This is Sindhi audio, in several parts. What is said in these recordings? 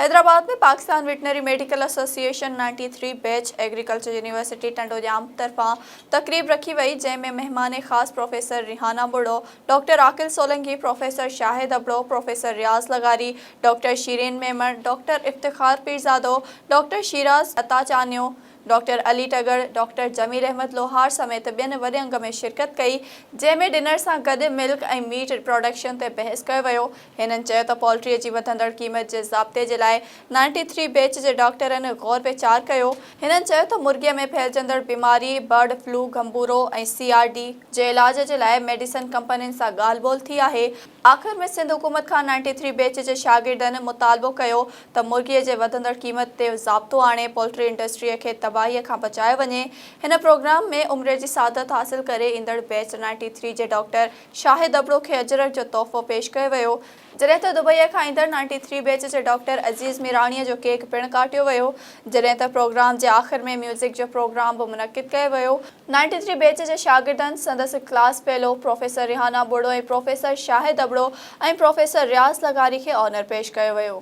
Hyderabad ۾ Pakistan veterinary medical association ninety three batch agriculture university Tando Jam طرفان تقريب رکي وئي جنهن ۾ مهمان خاص professor Rehana ٻڙو، doctor Aqil Solangi, professor Shahid Abro, professor Riaz لغاري، ڊاڪٽر شيرين ميمڻ، ڊاڪٽر افتخار پيرزادو، ڊاڪٽر شيراز عطا چانيو، ڊاڪٽر علي ٽڳڙ، ڊاڪٽر جميل احمد لوهار سميت ٻين وڏي انگ ۾ شرڪت ڪئي جنهن ۾ ڏنر سان گڏ ملڪ ۽ ميٽ پراڊڪشن تي بحث ڪيو ويو. هنن چيو ته پولٽري جي وڌندڙ قيمت جي ضابطي جي لاء نائنٽي ٿري بيچ جي ڊاڪٽرن غور ويچار ڪيو. هنن چيو ته مرغيء ۾ ڦهلجندڙ بيماري برڊ فلو، گهنبورو ۽ سي آر ڊي جي علاج جي لاء ميڊيسن ڪمپنين سان ڳالهه ٻولهه ٿي آهي. آخر ۾ سنڌ حڪومت کان نائنٽي ٿري بيچ جي شاگردن مطالبو ڪيو ته مرغيء جي وڌندڙ قيمت تي ضابطو آڻي پولٽري انڊسٽريء کي تباهيء کان بچايو وڃي. هن پروگرام ۾ عمري جي سعادت حاصل ڪري ايندڙ بيچ نائنٽي ٿري جي ڊاڪٽر شاهد ابڙو کي اجرڪ جو تحفو پيش ڪيو ويو، جڏهن ته دبئي کان ايندڙ نائنٽي ٿري بيچ جي ڊاڪٽر عزيز ميراڻيء جو ڪيڪ پڻ ڪاٽيو ويو، جڏهن ته پروگرام جي آخر ۾ ميوزڪ جو پروگرام به منعقد ڪيو ويو، نائنٽي ٿري بيچ جي شاگردن سندس class fellow professor Rehana Boro ۽ professor Shahid Abro ۽ professor Riaz لغاري کي آنر پيش ڪيو ويو.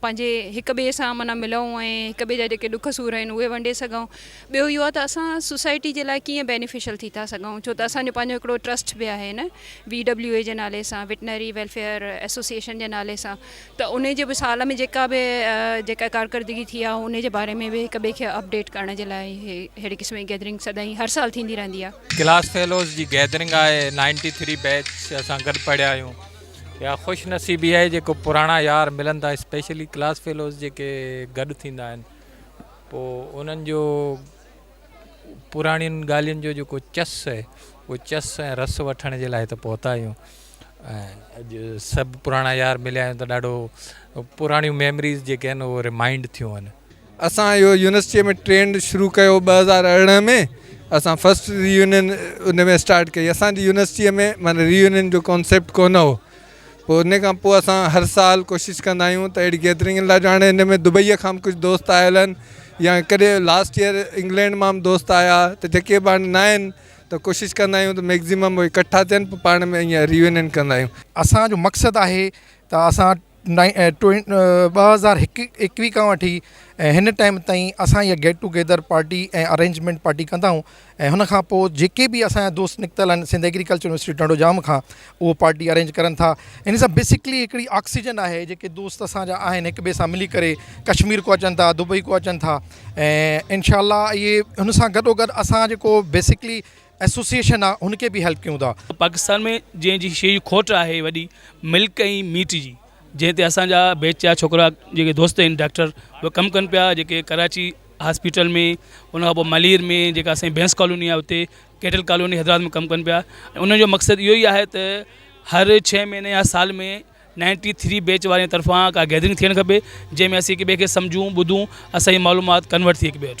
پنهنجي هڪ ٻئي سان معنيٰ ملئون ۽ هڪ ٻئي جا جيڪي ڏک سور آهن اهي ونڊي سگهئون ٻيو اهو آهي ته اسان سوسائٽي جي لاء ڪيئن بينيفشل ٿي ٿا سگهئون ڇو ته اسان جو پنهنجو هڪڙو ٽرسٽ به آهي نه وي ڊبليو اي جي نالي سان وٽنري ويلفيئر ايسوسيئيشن جي نالي سان ته ان جي به سال ۾ جيڪا به جيڪا ڪارڪردگي ٿي آهي ان جي باري ۾ به هڪ ٻئي کي اپڊيٽ ڪرڻ جي لاء ههڙي قسم جي گيدرنگ سدائين هر سال ٿيندي رهندي آهي. ڪلاس فيلوز جي گيدرنگ آهي نائنٽي ٿري بيچ اسان گڏ پڙهيا آهيون. اها خوش نصيبي آهي جيڪو پراڻا يار ملن ٿا اسپيشلي ڪلاس فيلوز جيڪي گڏ ٿيندا آهن پوء انهن جو پراڻين ڳالهين جو جيڪو چس آهي اهو چس ۽ رس وٺڻ جي لاء هت پهتا آهيون اڄ سڀ پراڻا يار مليا آهيون ته ڏاڍو پراڻيون ميمريز جيڪي آهن اهو ريمائنڊ ٿيون آهن اسان اهو يونيورسٽيء ۾ ٽرينڊ شروع ڪيو ٻه هزار ارڙهن ۾ اسان فسٽ ري يونين ان ۾ اسٽارٽ ڪئي اسان جي يونيورسٽيء ۾ معنيٰ ري يونين جو ڪانسيپٽ ڪونه هو پوء ان کان پوء اسان هر سال ڪوشش ڪندا آهيون ته اهڙي گيدرنگ لاء جو هاڻي ان ۾ دبئيء کان به ڪجهه دوست آيل آهن يا ڪڏهن لاسٽ ايئر انگلينڊ مان به دوست آيا ته جيڪي به هاڻي نه آهن ته ڪوشش ڪندا آهيون ته ميڪزيمم اهي اڪٺا ٿين پوء پاڻ ۾ ايئن ري يونين ڪندا آهيون. اسان جو مقصد آهي ته اسان ٻه هزار ايڪويهه کان وٺي ۽ هن ٽائيم تائين اسان ائين get together party ۽ arrangement party ڪندا آهيون ۽ هن کان پوء جيڪي بي اسان جا دوست نڪتل آهن سنڌ ايگريڪلچر يونيورسٽي ٽنڊو ڄام کان هو پارٽي ارينج ڪرن ٿا ان سان بيسڪلي هڪڙي آڪسيجن آهي جيڪي دوست اسان جا آهن هڪ ٻئي سان ملي ڪري ڪشمير کان اچن ٿا دبئي کان اچن ٿا ۽ انشاء الله ائين هن سان گڏو گڏ اسان جيڪو بيسڪلي ايسوسيئيشن آ هن کي به هيلپ ڪيون ٿا. پاڪستان ۾ جنهن جي شيء جي کوٽ آهي وڏي ملڪ ۽ ميٽ جي جنهن تي اسان جا بيچ جا ڇوڪرا جيڪي دوست آهن ڊاڪٽر اهي ڪم ڪن پيا جيڪي ڪراچي هاسپيٽل ۾ ان کان پوء ملير ۾ جيڪا اسان جي بينس ڪالوني آهي اتي ڪيٽل ڪالوني حيدرآباد ۾ ڪم ڪن پيا ۽ ان جو مقصد اهو ئي آهي ته هر ڇهه مهيني يا سال ۾ نائنٽي ٿري بيچ وارن جي طرفان ڪا گيدرنگ ٿيڻ کپي جنهن ۾ اسين هڪ ٻئي کي سمجهون ٻڌون اسان جي معلومات ڪنورٽ ٿئي هڪ ٻئي وٽ.